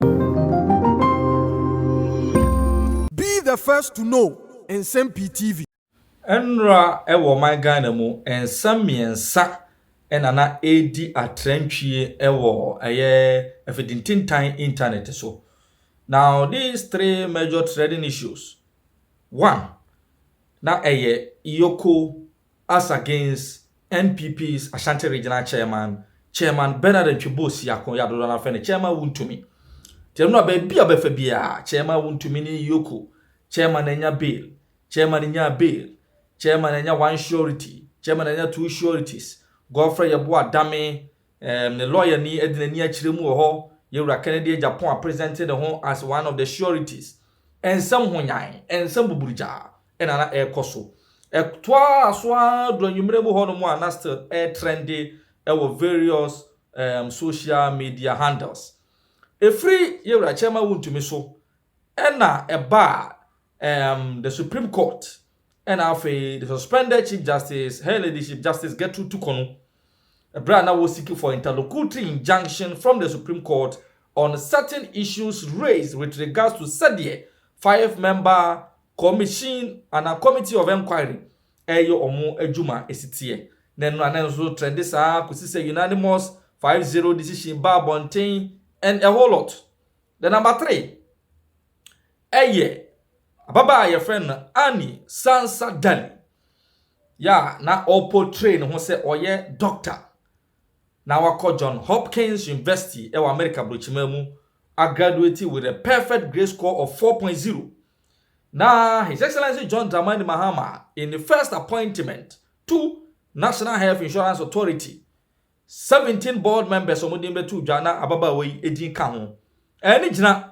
Be the first to know Nsɛm Pii TV. Nnora wɔ ɔman Ghana mu, nsa mmiɛnsa na na ɛredi atrantwie wɔ ɛyɛ afidintintan intanɛt so. Now these three major threading issues, one, na ɛyɛ Yoko, Asa Gaines, NPP's Ashanti Regional Chairman, Chairman Bernard Ntwebo Siako, yɛ a dodoɔ no ara frɛ no Chairman Wontumi. Nti ɛno na baabi a ɔbɛfa biara, Chairman Wontumi ne Yoko, Chairman anya bail, Chairman nyaa bail, Chairman anya one surety, Chairman anya two sureties, Godfrey Yeboah Adame, ɛɛm, ne lɔyani adi n'ani akyerɛ mu wɔ hɔ, Yɛwura Kennedy Agyapong apresente ne ho as one of the sureties. Nsɛm ho nyan, nsɛm buburugyaa, na na ɛrekɔ so. Ɛtoaa so ara duru anwummere mu hɔnom a na still ɛretrɛnde wɔ various um, social media handles. Ɛfiri yɛ wura Kyɛrima Wontumi so ɛna ɛbaa um, the Supreme Court ɛna afei the suspended Chief Justice, Her Ladyship Justice Gertrude Tukonu, ɛberɛ a na wɔsiki for interlocutory injunction from the Supreme Court on certain issues raised with regards to sɛdeɛ five-member Commission anaa Committee of Enquiry reyɛ wɔn adwuma a esi teɛ, na ɛno na na nso trɛnde saa ara kɔsi sɛ unanimous five zero decision baa abɔnten and a whole lot. The number three yɛ ababaa a yɛfrɛ no Anni Sansa Dali, yɛ a na ɔreportray ne ho sɛ ɔyɛ doctor na wakɔ John Hopkins University wɔ Amerika Burokyimaa mu agraduate with a perfect grade score of 4.0. Na His Excellency John Dramani Mahama in the first appointment to National Health Insurance Authority, 17 board members a wɔn din bɛto dwa na ababaawa yi din ka ho. Ɛɛ ne gyina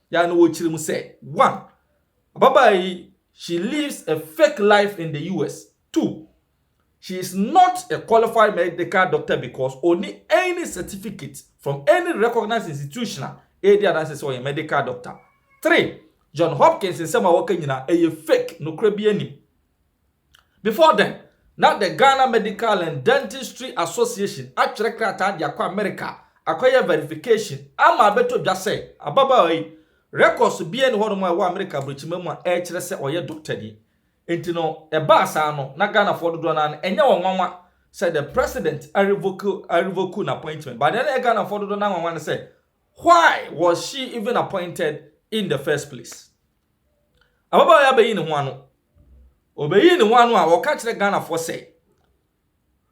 Ya no wɔ kyerɛ mu sɛ, One, ababaa yi, she lives a fake life in the US. Two, she is not a qualified medical doctor because ɔnni any certificate from any recognized institution a ɛredi adanse sɛ ɔyɛ medical doctor. Three, John Hopkins nsɛm a wɔka nyinaa, ɛyɛ fake, nokorɛ biara nnim. Before then, na the Ghana Medical and Dentistry Association atwerɛ krataa de akɔ Amerika akɔyɛ verification ama abɛtɔ dwa sɛ ababaawa yi, records biara nni hɔnom a ɛwɔ Amerika aburokyima mu a ɛkyerɛ sɛ ɔyɛ dɔktani. Enti no, ɛbaa saa no, na Ghanafoɔ dodoɔ no ara no, ɛnyɛ wɔn nwanwa sɛ the President arevoke arevoke n'appointment. But deɛ na ɛyɛ Ghanafoɔ dodoɔ no ara nwanwa ne sɛ, why was she even appointed in the first place? Ababaawa yi abɛyi ne ho ano. Ɔbɛyii ne ho ano a ɔka kyerɛ Ghanafoɔ sɛ,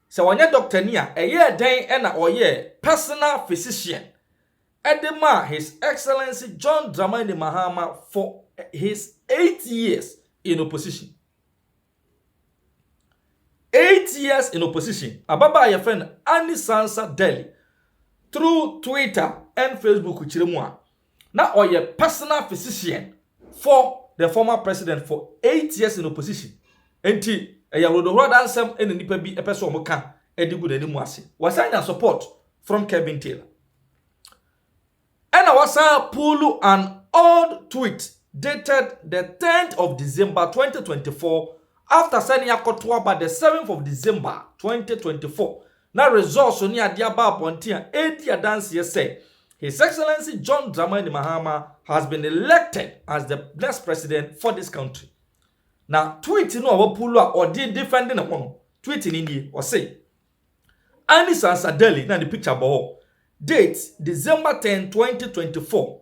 sɛ ɔnyɛ dɔktani a ɛyɛɛ dɛn na ɔyɛɛ personal physician de maa His Excellency John Dramani Mahama for his eight years in opposition. Eight years in opposition. Ababaa a yɛfrɛ no Annie Sansa Delli through Twitter and Facebook kyerɛ mu a, Na ɔyɛ personal physician for the former president for eight years in opposition nti ɛyɛ hodohorada nsɛm na nnipa bi pɛ sɛ wɔka de gu n'anim ase. Wasan nya support from Kevin Taylor. Ɛna wasan puulu an old tweet dated the tenth of December twenty twenty four after sɛ ne akɔto aba the seventh of December twenty twenty four na resɔɔso ne ade aba abɔnten a ɛredi adanseɛ sɛ His Excellency John Dramani Mahama has been elected as the next president for this country. Na tweet no a wapulo a ɔde defend ne ho no, tweet no nie, ɔse Annie Sansadeli na ne picture bɔ hɔ, date December 10, 2024.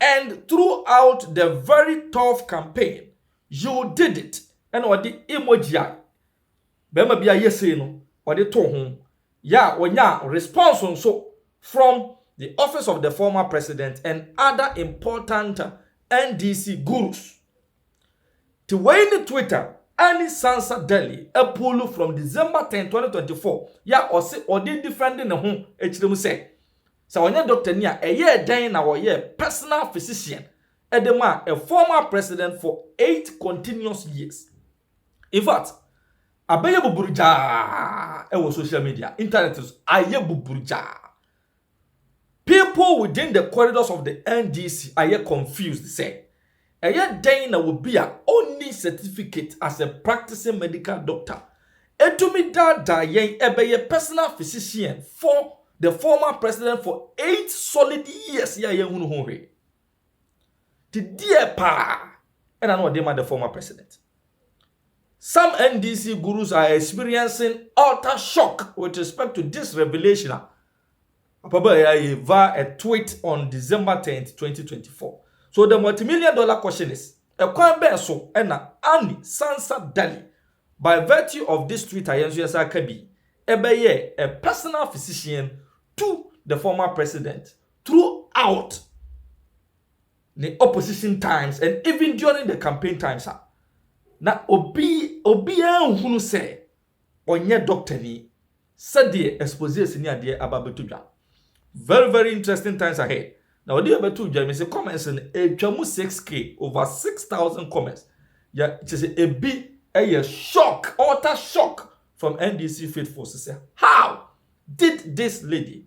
And throughout the very tough campaign you did it ɛna ɔde emoji a barima bi ayɛ sei no ɔde too ho yɛ a ɔnyaa response nso from the office of the former president and other important NDC gurus. Te wei ne Twitter Annie Sansa Daly apuulu from December ten, twenty twenty four yɛ a ɔse ɔde redefɛnde ne ho kyerɛ mu sɛ sɛ ɔnyɛ dɔktani a ɛyɛɛ dɛn na ɔyɛɛ personal physician de maa a former president for eight continuous years. In fact, abɛyɛ buburugyaa wɔ social media, internet so ayɛ buburugyaa. People within the corridors of the NDC ayɛ confused sɛ, ɛyɛ dɛn na obi a onni certificate as a practicing medical doctor atumi daadaa yɛn bɛyɛ personal physician for the former president for eight solid years yi a yɛnhunu ho hwee? Nti deɛ paa ɛna na ɔde ma the former president. Some NDC gurus are experiencing utter shock with respect to this revelation a Papa Boyaye via a tweet on December 10, 2024. So the multimillion dollar question is, ɛkwan bɛn so ɛna Annie Sansa Dali, by virtue of this tweet a yɛn nso yɛsan ka bi, ɛbɛyɛɛ a personal physician to the former president Throughout the opposition times and even during the campaign times a, na obi obiara nhunu sɛ ɔnyɛ doctor ni sɛdeɛ exposés ni adeɛ aba bɛto dwa. Very very interesting times ahead. Na ɔde yɛbɛto dwa me sɛ comments no ɛtwa mu 6k over 6000 comments. Yɛ kyɛ sɛ ebi ɛyɛ shock utter shock from NDC faithfuls sɛ how did this lady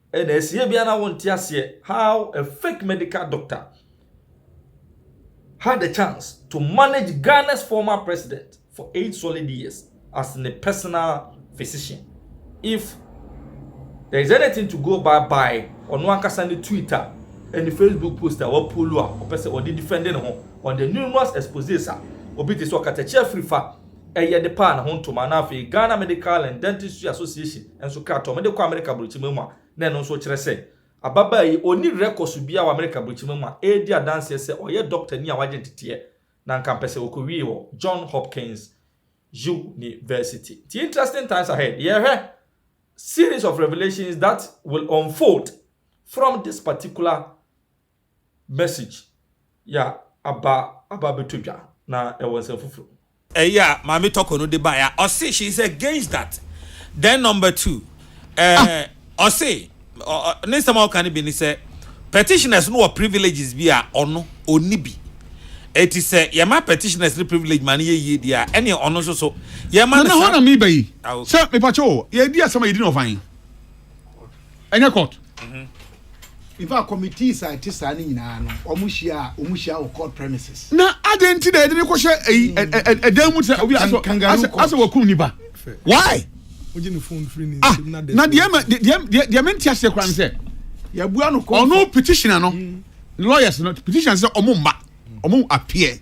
Ɛna ɛsiiɛ biaa na wonte aseɛ how a fake medical doctor had the chance to manage Ghana's former president for eight solid years as ne personal physician. If there is anything to go by by ɔno ankasa ne tweet a ɛne Facebook post a wapuolu a ɔpɛ sɛ ɔde defend ne ho on the numerous exposes a obi te sɛ ɔkatakyia firi fa ɛyɛ de paa ne ho ntoma na afei Ghana Medical and Dentistry Association nso kaa tɔɔ me de kɔɔ Amerika Aburokyima mu a na ɛno nso kyerɛ sɛ ababaa yi ɔnni rɛkɔso biara wɔ Amerika Aburokyima mu a ɛredi adanseɛ sɛ ɔyɛ dɔktani a wagye nteteɛ na anka mpɛ sɛ ɔkɔwie wɔ John Hopkins University. Nti interesting times ahead. Yɛhwɛ series of revelations that will unfold from this particular message yɛ a aba aba abɛtɔ dwa na ɛwɔ nsɛm foforo mu. Ɛyi a Maame Tɔkɔ no de baeɛ a, ɔse she is against that. Then number two, eh, ɔse, ɔ, ɔ, ne nsɛm a ɔka no bi ne sɛ, petitioners no wɔ privileges bi a ɔno, ɔnni bi. Enti sɛ yɛma petitioners no privilege ma no yɛ yie deɛ a, ɛnneɛ ɔno nso so, yɛma no Nana, hɔ saa. na meba yi. Ah, okay. Sɛ, mepakyɛ o, yɛredi asɛm a yɛdi no ɔfan. ɛnyɛ court mhm. in fact committees a ɛte saa no nyinaa no wɔn hyia wɔn hyia wɔ court premises. na adan ti na yɛde ne kɔhyɛ ɛyi hmm. ɛdan mu sɛ obi asɛ asɛ wɔkum nipa why. ah na deɛ ma deɛ deɛ deɛ mi n ti ase kora n sɛ. yabua no kɔ ɔno petitioner no hmm. lawyers no petitioner sɛ ɔmo mma. wɔn apeɛ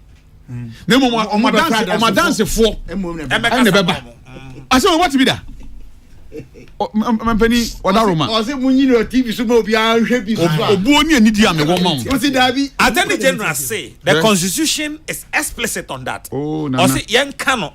na mmom wɔn adanse wɔn adansefoɔ ɛna ɛbɛba asɛ wɔn wɔte bi da mampanin ɔda roma. ɔsɛ mu nyina tv so ma obiara nhwɛ bi so a. obuo ni ani di a mewɔ ma wo. o si daabi. attorney general say the constitution is explicit on that. ɔsɛ oh, yɛn ka no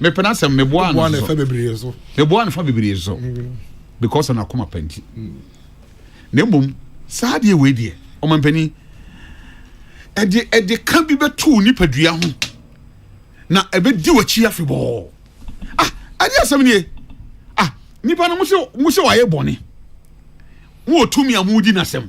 mepɛ na sɛ meboa no so meboa no fa bebree so mm. because na akoma pa nti mm. na mmom saa deɛ wei deɛ ɔmampanin ɛde ɛde ka bi bɛto nipadua ho na ɛbɛdi w'akyi afebɔɔ ah ɛde asɛm nie ah nipa no mo sɛ mo sɛ wayɛ bɔne mo wɔ tumi a mo di n'asɛm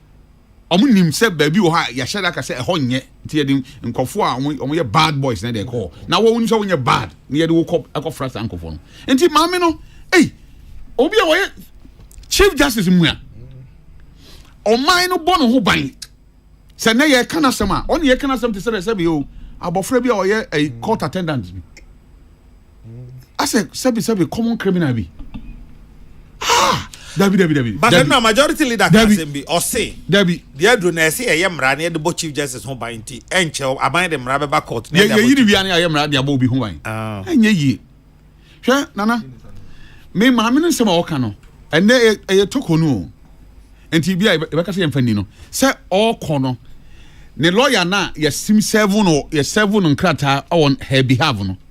wɔnim sɛ baabi wɔ hɔ a yɛahyɛ da ka sɛ ɛhɔ nyɛ nti yɛde nkɔfoɔ a wɔyɛ bad boys na ɛde ɛkɔ hɔ na wɔn sɛ wɔnyɛ bad na yɛde wokɔ ɛkɔfra saa nkɔfoɔ no nti maame no ei obi a wɔyɛ chief justice mu a ɔman no bɔ ne ho ban sɛ nɛ yɛka no asɛm a ɔne yɛka no asɛm te sɛ dɛ sɛ beyɛ o abɔfra bi a ɔyɛ court attendant bi asɛ sɛbi sɛbi common criminal bi ah dabi dabi dabi. but dabi. na majority leader ka asɛm bi ɔse dabi deɛ aduro na ɛsɛ yɛyɛ mmara na yɛde bɔ chief justice ho ban nti ɛnkyɛw aban de mmara bɛba court. yɛyi ne wia ne ayɛ mmara de abɔ obi ho ban ah. ɛnyɛ yie hwɛ nana me maame no nsɛm a ɔka no ɛnɛ ɛyɛ toko no o nti bi a yɛbɛka sɛ yɛmfa ni no sɛ ɔkɔ no ne lɔya no a yɛsim sɛvo no yɛsɛvo no nkrataa on her behalf no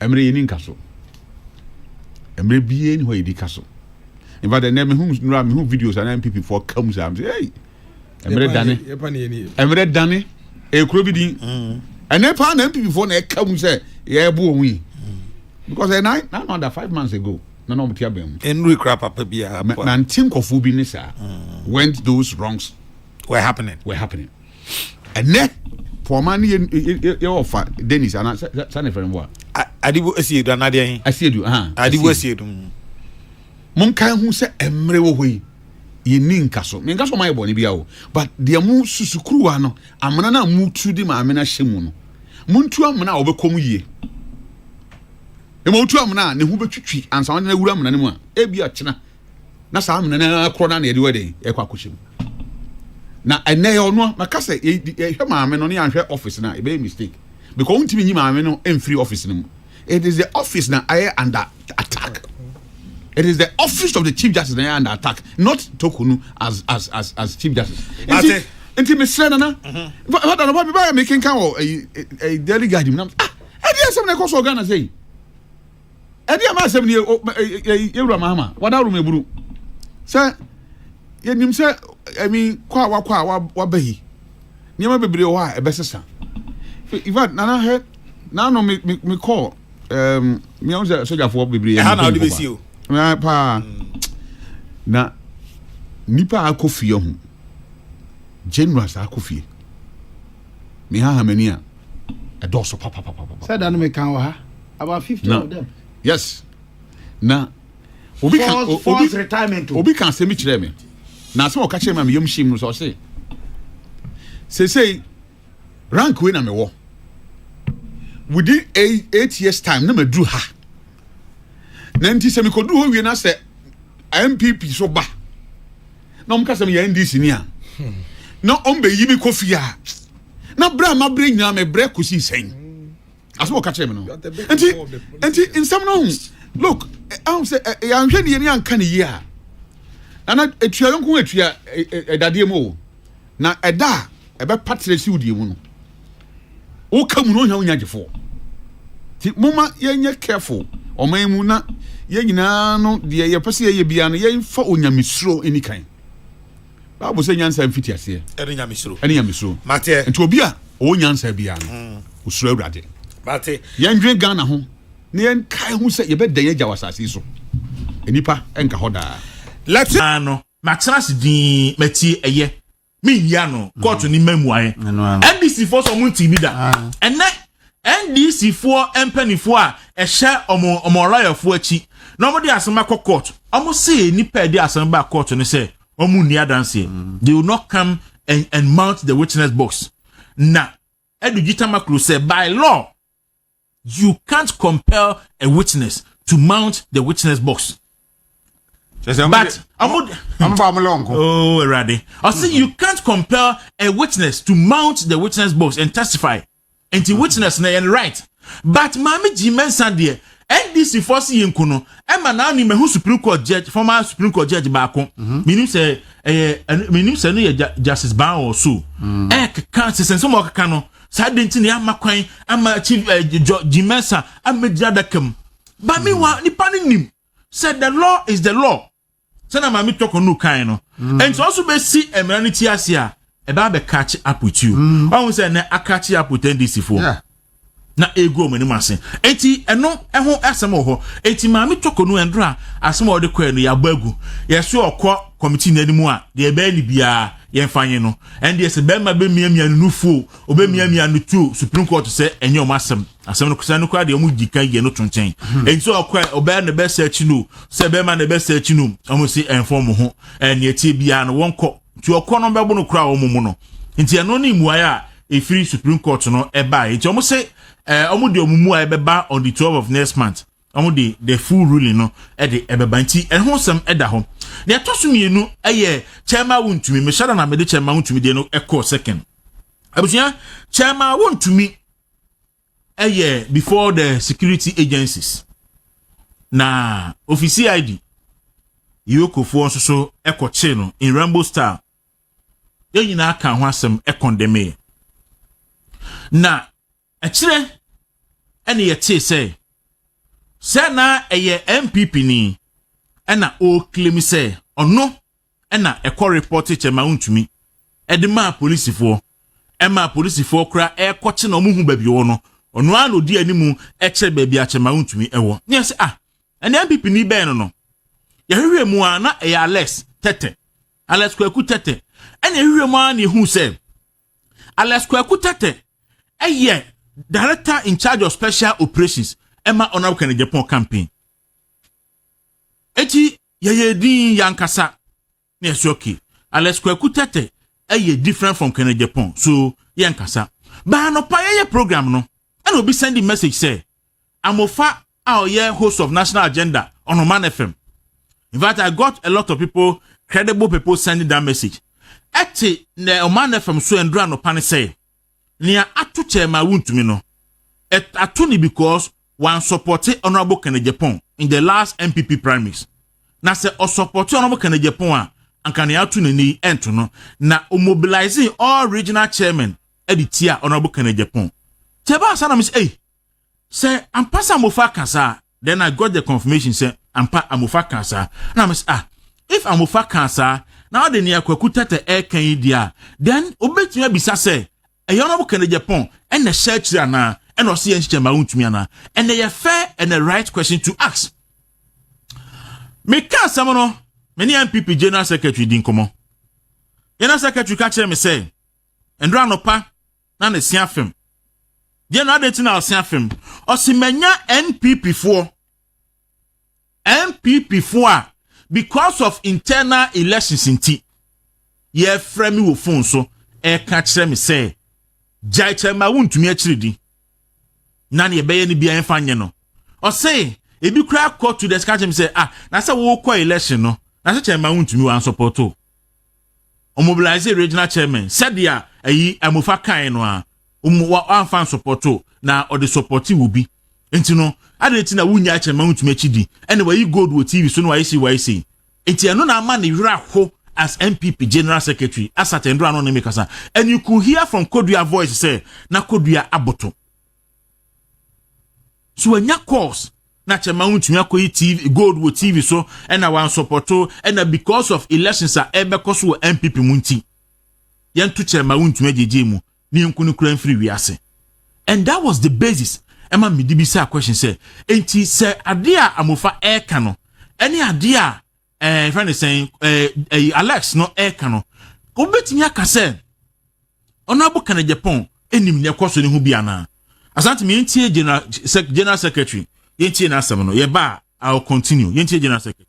Mmerɛ yɛni nka so. Mmerɛ biara ni hɔ yɛdi ka so. In fact, ɛnɛ mehu nura mehu videos anaa MPP foɔ ka mu saa. Hey, mmerɛ dane. Mmerɛ dane. Ekuro bi din. Mm. Ɛnɛ paa na MPP foɔ na ɛka mu sɛ yɛɛbo wɔn yi. Mm. Because ɛnɛ eh, na another five months ago na na wɔn ti abɛn mu. Enuri kura papa bi a. Nanti nkɔfo bi ne saa. Mm. When those wrongs were happening. Were happening. ɛnɛ pɔɔma ne yɛ ɔfa denis ana sa ne fɛn wa. adibu asiedu anadeɛ he. asiedu ahan. adibu asiedu. monkae ho sɛ mmerɛ wɔ hɔ yi yɛnni nka so menka so ɔma yɛ bɔne bia o but deɛ mo susukuruwa no amena no a motu de maame no ahyɛ mu no montu amena a wɔbɛkɔ mu yie ɛma wotu amena a ne ho bɛtwitwi ansa wɔde no awura amena no mu a ebi akyena na saa amena no ara korɔ no na yɛde wɛde ɛkɔ akɔhyɛ mu na ɛnɛ yɛ ɔno maka sɛ yɛhwɛ maame no ne yɛanhwɛ ɔfis no a ɛbɛyɛ mistake because wontumi nyi maame no mfiri ɔfis no mu it is the office na ayɛ under attack it is the office of the chief justice na ayɛ under attack not tokunu as as as as chief justice nti nti mesrɛ nana fada no bɛbɛyɛ mekenka wɔ daily guide mu nam ah ɛdeɛ asɛm na ɛkɔ so ɔghana sɛ yi ɛne ɛma asɛm nie yɛwura mahama wadaworo mu ebunu sɛ yɛnim sɛ ɛmi kɔ a wakɔ a waba yi nneɛma bebree wɔ hɔ a ɛbɛsesa in fact nana hɛ nano mekɔ meahu sɛ sogyafoɔ bebree ɛha na wode bɛsi o paa na nipa akɔ fie ho generous akɔ fie mehaha m'ani a, ɛdɔɔso papapapapa. Sɛ da no meka wɔ ha, about fifty of them. Yes. Na obi ka obi force retirement. Obi ka asɛm bi kyerɛ me. Na asɛm ɔka kyerɛ me a meyam hyem no sɛ ɔse. Sesei rank wei na mewɔ. Within eight years time na maduru ha. na nti sɛ mekɔduru hɔ wie na sɛ npp so ba na ɔmka sɛ meyɛ ndc ni a na ɔmbɛyi me kɔ fie a na berɛ a mabrɛ nyinaa mebrɛ kɔsii sɛn asɛ wɔka kyerɛ me no nti nti nsɛm no ho look ahom sɛ yɛanhwɛ ne yɛne anka ne yie a nana ɛtua yɔnko atua ɛdadeɛ mu o na ɛda a ɛbɛpa terɛ si wo deɛ mu no woka mu no ohia wonya gyefo ti moma yɛnyɛ careful ɔman mu na yɛn nyinaa no deɛ yɛpɛ sɛ yɛyɛ biara no yɛmfa onyamesuro ɛni kan bible sɛ nyansa mfiti aseɛ ɛne nyamesuro ɛne nyamesuro mateɛ nti obi a ɔwɔ nyansa biara no hmm. osuro awurade mate yɛndwen ghana ho na yɛnkae ho sɛ yɛbɛdɛn yɛgya wɔ asase so nnipa ɛnka hɔ daa lɛte no matena ase dii matie ɛyɛ menhia no kɔɔto mm. ne ma mmuaeɛ ndc foɔ sɛ ɔmo ntii bi da ah. ɛnɛ ndc foɔ mpanimfoɔ a ɛhyɛ ɔmo ɔmo ɔlɔyɛfoɔ akyi na ɔmo de asɛm akɔ kɔɔto ɔmo se nipa ɛde asɛm ba kɔɔto no sɛ ɔmo nni adanseɛ mm. they will not come and and mount the witness box na ɛdu gyitama kuro sɛ by law You can't compel a witness to mount the witness box. But oh, I say you can't compel a witness to mount the witness box and testify. And the witness na yɛn right. But maame gyi mɛnsa deɛ NDC fɔ si yɛn ko no ɛma naa ni mɛhu Supreme Court judge former Supreme Court judge baako. Minim sɛ ɛyɛ minim sɛ no yɛ Justice Ban or so. Ɛkeka sɛsɛn sɛ mo ɔkeka no. Saa de nti na yɛama kwan ama akyi jɔ gyimɛnsa amɛgyina adaka mu. Ba mi wa hmm. nipa no nim sɛ the law is the law. Sɛna maame tɔkɔ no kan no. Hmm. Nti ɔso bɛsi mmara no ti ase a ɛbɛ abɛ kakye up with you. Hmm. Ɔho sɛ ɛnɛ akakye up with NDC fo. Yeah na egu wɔn anim ase eti ɛno ɛho asɛm wɔ hɔ eti maame tɔkɔ no ɛndora asɛm a ɔde kɔɛ no yabɔ agu yɛso ɔkɔ kɔmiti n'anim a deɛ ɛbɛyɛ ne biara yɛmfa nye no ɛndeɛ sɛ bɛrima bɛmiamia no nufu o ɔbɛmiamia no tu o supreme court sɛ ɛnyɛ ɔm asɛm asɛm no kosa no koraa deɛ ɔmo gyi kan yɛ no to nkyɛn hmm. ɛnti sɛ ɔkɔ ɔbɛyɛ na ɛbɛsɛ akyi no sɛ bɛrima na ɛbɛsɛ akyi no ɔmo si ɛnfɔ ɔmo ho ɛneɛ tie biara no wɔnkɔ nti ɔkɔ no bɛbo no koraa ɔmo mu no nti ɛno ne mmuaeɛ a ɛfiri supreme court no ɛbaeɛ nti ɔmo se ɔmo de ɔmo mmuaeɛ bɛba on the twelve of next month wɔn de the full ruling no de ɛbɛba nti ɛho nsɛm ɛda hɔ na ɛtɔ so mmienu ɛyɛ kyɛma wo ntumi mehyɛ da na mede kyɛma wo ntumi deɛ no ɛkɔɔ second abusua kyɛma wo ntumi ɛyɛ before the security agencies na ofisi id yokofoɔ nso so ɛkɔkye no in rainbow star yɛn nyinaa ka ho asɛm ɛkɔndɛmee na Akyire na yɛtee sɛ sɛ na ɛyɛ NPP ni na ɔreklemi sɛ ɔno na ɛkɔ repɔte kyɛ ma ɔntumi de maa polisifoɔ ɛma polisifoɔ kora ɛrekɔkye na ɔmohu baabi ɔwɔ no ɔno ara na ɔdi anim kyerɛ baabi akyɛ ma ɔntumi ɛwɔ ne yɛsɛ ah ɛne NPP ni bɛn no no yɛhwehwɛ mu a na ɛyɛ Alex Tete Alex Kwaku Tete ɛna yɛhwehwɛ mu a na yɛhu sɛ Alex Kwaku Tetteh yɛ Director in charge of special operations ɛma Honorable Kenneth Agyapong campaign. Eti yɛyɛ din yankasa na yɛsɛ okay. Alex Kwaku Tetteh ɛyɛ different from Kenneth Agyapong so yɛnkasa. Baa nɔpa yɛyɛ program no ɛna obi send message sɛ amofa a ɔyɛ host of national agenda on Oman FM. In fact, I got a lot of people, credible people sending that message. Ɛte na Oman FM so ɛndura anɔpa ne sɛ, nea ato kyɛn ma wontumi no, ato ne because one supported Honorable Kenneth Japan in the last MPP primaries. Na sɛ ɔsupported Honorable Kenneth Japan a, anka nea ato n'ani ɛnto no. Na mobilizing all regional chairmen ɛde tia Honorable Kenneth Japan. Tɛba asa na mo sɛ, ei, Sɛ ampa sɛ Amofa ka saa then I got the confirmation sɛ ampa Amofa kaa saa na mese ah if Amofa kaa saa na ɔde nea Kwaku Tɛtɛ ɛreka yi di a then obetumi abisa sɛ ɛyɛ Honourable Kennedy Gyapɔn ɛna ɛhyɛ akyiri anaa ɛna ɔse yɛ nkyekyɛ ma wontumi anaa and ɛyɛ fair and a right question to ask meka asɛm no me ne MPP General Secretary di nkɔmmɔ General Secretary ka kyerɛ me sɛ ndora anɔpa na ne se afem. Deɛ no adɛn ti na ɔse afem? Ɔse manya NPP foɔ. NPP foɔ a because of internal elections nti yɛfrɛ me wɔ phone so ɛka kyerɛ me sɛ gyae kyerɛ ma wontumi akyiri di na ne yɛbɛyɛ no bia ɛmfa nyɛ no ɔse ebi kura kɔ to the sika kyerɛ me sɛ ah na sɛ wokɔ election no na sɛ kyerɛ ma wontumi wansɔpɔto ɔmobilaise regional chairman sɛdeɛ ayi Amofa kae no a ɔmo wa wamfa nsɔpɔto na ɔde sɔpɔte obi nti no adɛn nti na wonyaa kyɛ ma wontumi akyi di ɛna wayi gold wɔ TV so na wayɛ sei wayɛ sei nti ɛno na ama ne werɛ ho as NPP general secretary asatɛndora no ne me kasa and you could hear from Kodua voice sɛ na Kodua aboto so wanya course na kyɛ ma wontumi akɔyi tv gold wɔ tv so ɛna wansɔpɔto ɛna because of elections a ɛbɛkɔ so wɔ npp mu nti yɛnto kyɛ ma wontumi agyegye mu ne yɛnku no kura mfiri wiase and that was the basis ɛma mede bi saa question sɛ enti sɛ adeɛ a amofa ɛreka no ɛne adeɛ a ɛɛ eh, fɛn ne sɛn ɛɛ eh, ɛyi eh, alex no ɛɛka no wobɛtumi aka sɛ ɔno abo kana japan ɛnim nea ɛkɔ so ne ho bi anaa asante mi yɛntie general sec general secretary yɛntie n'asɛm no yɛba a i will continue yɛntie general secretary.